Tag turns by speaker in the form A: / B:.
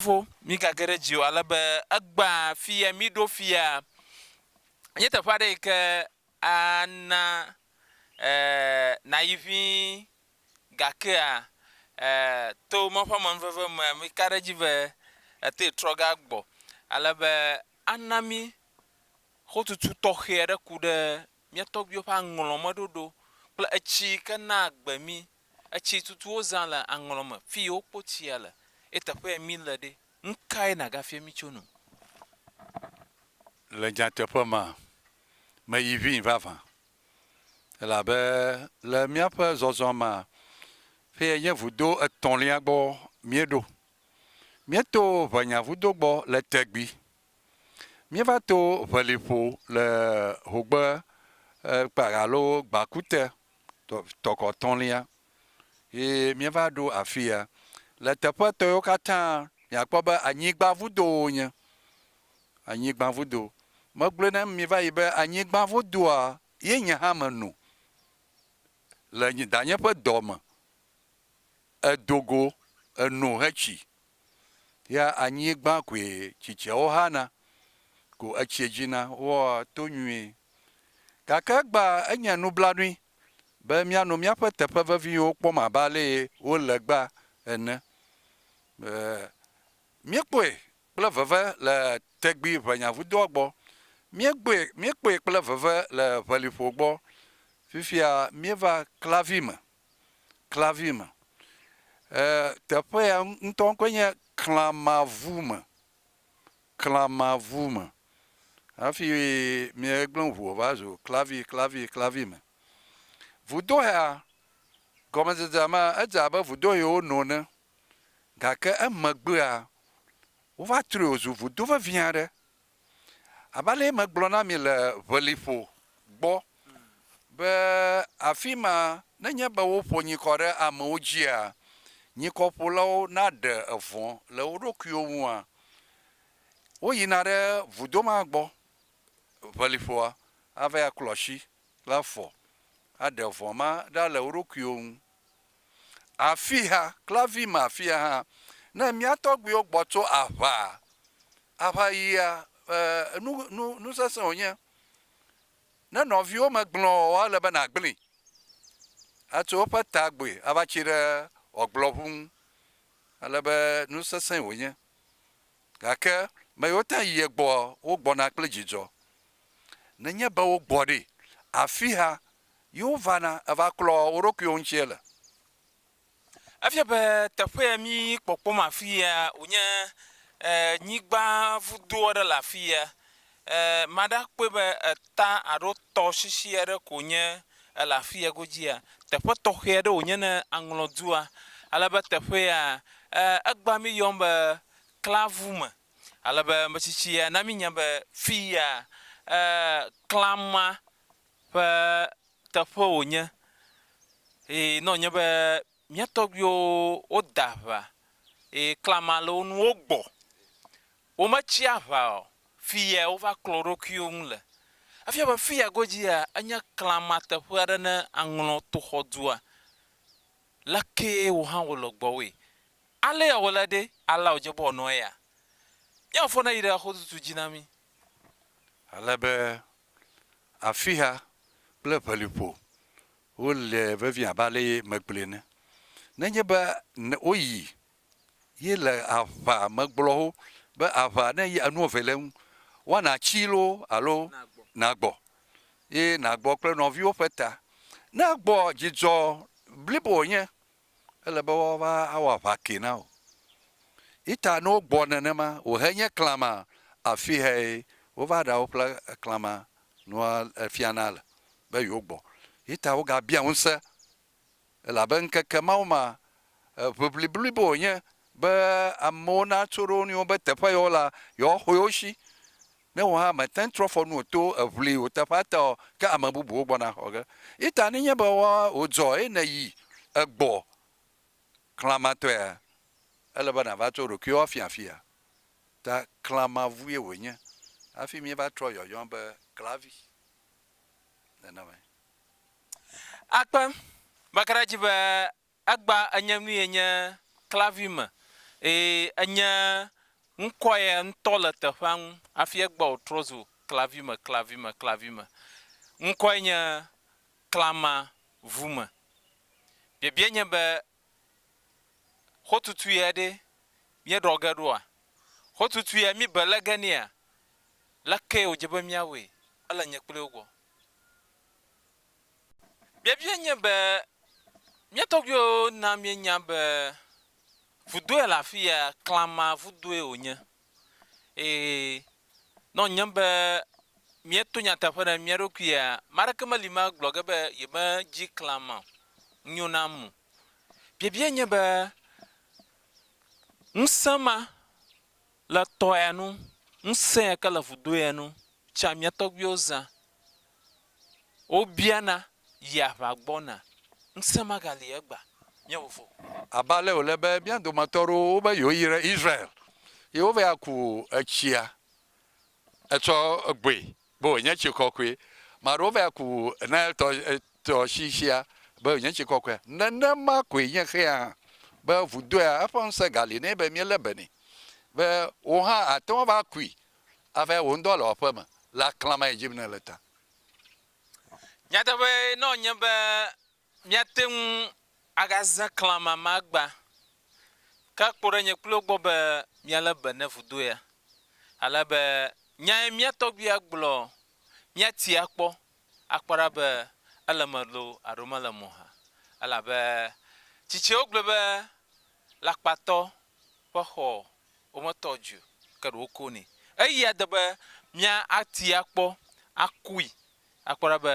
A: fofo, migage ɖe dzi o, ale be egbã fia mí ɖo fia nye teƒe aɖe yi ke ana e nàyi ʋĩ. Gakea e to Mawu ƒe amenuveve mea, meka ɖe edzi be ètee trɔ ge agbɔ, ale be ana mí xotutu tɔxɛ aɖe ku ɖe mía tɔgbuiwo ƒe aŋlɔmeɖoɖo kple etsi yi ke naa agbe mí Etsi tutu wozã le aŋlɔ me fi yi wokpo tsia le ye teƒeɛ mí le ɖe. Nukae nàgafia mí tso nu?
B: Le nyateƒe me, meyi ʋĩi vavã elabe le míaƒe zɔzɔ me fiye nye vudo etɔ̃lia gbɔ míeɖo. Míeto Ʋenyavudo gbɔ le tegbi Míeva to ʋeliƒo le Hogbe kpa alo Gbakute tɔkɔ tɔ̃lia ye míeva ɖo afi ya. Le teƒe etɔ̃ yewo katã miakpɔ be anyigba vudowo wonye. Anyigba vudo. Megblɔe na mi va yi be anyigba vudoa ye nye hã meno le nye danye ƒe dɔ me. Edo go eno hetsi Ya anyigba koe tsitsiawo hana, ko etsie dzina wɔa to nyuie. Gake egbea enye nublanui be míano míaƒe teƒe veviwo kpɔm abe alee wole egbea ene. Míekpɔe kple veve le tegbi ʋenyavudoa gbɔ, míegbɔe, míekpɔe kple veve le ʋeliƒo gbɔ, fifia míeva klavi me. klavi me. E, teƒe ya ŋutɔ ŋkɔe nye Klamavu me. Klamavu me. Hafi míegblẽ ŋu va zu klavi, klavi, klavi me. Vudohea, gɔmedzedzea mea, edze abe vudohewo no ene. Gake emegbea, wova trɔe wòzu vudo vevi aɖe. Abe alee megblɔ na mi le ʋeliƒo gbɔ be afi ma nenye be woƒo nyikɔ ɖe amewo dzia, nyikɔƒolawo naɖe vɔ̃ le wo ɖokuiwo ŋua, woyina ɖe vudo ma gbɔ, ʋeliƒoa, ava aklɔ asi kple afɔ aɖe vɔ̃ ma ɖa le wo ɖokuiwo ŋu. Afia kple afima afia hã, ne mía tɔgbuiwo gbɔ tso aʋa, aʋayia, e, nu, nu, nu sesẽ wònye. Ne nɔviwo me gblẽ oa, ele be nàgblẽe. Atso eƒe ta gbɔe ava tsi ɖe ɔgblɔʋu ŋu. Ele be nu sesẽ wònye. Gake me yiwo tã yia egbɔa, wogbɔna kple dzidzɔ. Nenye be wogbɔ ɖe, afia Yiwo vana evaklɔ wo ɖokuiwo ŋuti ele.
A: Efia be teƒe ya mi kpɔkpɔm afi ya wonye nyigba vudo aɖe le afi ya. Mada akpɔe be eta alo tɔsisi aɖe ko nye ele afi ya godzia. Teƒe tɔxɛ aɖe wonye ne aŋlɔ dua. Ale be teƒe ya egba mi yɔm be klavu me. Ale be metsitsi ya na mi nya be fi ya klama ƒe teƒe wònye eye ne wònye be mía tɔgbuiwo wode aŋa eye klama le wo ŋu wogbɔ, wometsi aŋa o, fi yae wova klɔ wo ɖokuiwo ŋu le. Efia be fi ya godzia enye klama teƒe aɖe ne aŋlɔ toxɔdua. Le kee wò hã wòle gbɔwòe. Alea wòle ɖe, alea wòdze be wòanɔ eya. Mía Fofo neyi ɖe xotutu dzi na mí. Ale
B: be Afixa kple ʋeliƒo, wole vevie abe ale ye megblɔe ene. Nenye be woyi ye le aʋa megblɔ wo be aʋa ne yi enu eve le eŋu, woana tsii loo alo nagbɔ ye nagbɔ kple nɔviwo ƒe ta. Ne gbɔ, dzidzɔ blibo wònye Ele be woava awɔ aʋa kee na wò. Yi ta ne wogbɔ nenema, wò he nye klama afi hee wova ɖa woƒle klama nua efia na le, be yewo gbɔ. Yi ta woga bia ŋuse, elabe ŋkeke mawo ma, ʋiʋli blibo wònye be amewo natso ɖe wo nɔewo be teƒe yewo la, yewoa xɔe wo shi, Ne wò hã mète ŋu trɔ fɔ nu o to eŋli wò teƒea ta o, ke ame bubuwo gbɔna axɔ ge. Yi ta nenye be wòdzɔ eye nèyi egbɔ klamatɔea, ele be nàva tso ɖokuiwò afia afia. Ta klamavue wònye hafi míeva trɔ yɔyɔ be klavi nenemae.
A: Akpe makaɖedzi be Egba enye nuyɛ nye klavi me, eye enye ŋkɔyɛ ŋtɔ le teƒea ŋu, afi egba wòtrɔ zu klavi me, klavi me, klavi me. Ŋkɔɛ nye klama vu me. Biabia nye be, xotutuyɛ ɖe míeɖɔ ge ɖoa? Xotutuyɛ mí bele ge nɛa? Lekee wòdze be míawɔe? Ele nye kpli wo gbɔ. Biabia nye be, mía tɔgbuiwo na míenya be vudoe le afi ya, Klama vudoe wònye. Eye ne wònye be míeto nyateƒe ɖe mía ɖokuia, ame aɖeke meli me agblɔ ge be yemedzi Klama o, nyo nam o. Biabia nye be, ŋusẽ ma Le tɔya nu, ŋusẽ ya ke le vudoya nu tsã mía tɔgbuiwo zã. Wobiana, Yi aʋa gbɔna? Ŋusẽ magali egba. Mía vovo. Abe ale wòle be
B: mía dometɔ aɖewo wobe yewoyi ɖe Israel ye wova yi aku etsia etsɔ gbɔe be wònye tsi kɔkɔe. Ame aɖewo va ku Nile tɔ, tɔsisia be wònye tsi kɔkɔea. Nenema koe nye xea hã, be vudoea, eƒe ŋusẽ gali nɛ be míelé be nɛ. Be wò hã àte ŋu ava kui ava wò ŋdɔ le wò aƒe me le aklã ma yi dzi yim nèle ta. Nyateƒee
A: nɔ nye be Míate ŋu agazẽ klamama gbã, ke akpɔ ɖe nye kpli wò gbɔ be míalé be ne vudo ya, ale be nyae mía tɔgbui agblɔ, míati akpɔ, akpɔ ɖa be ele eme loo alo mele eme o hã. Elabe tsitsiawo gblɔe be, Lakpatɔ ƒe xɔ wometɔ dzi o, ke ɖe woko nɛ. Eyia de be míati akpɔ, akui, akpɔ ɖa be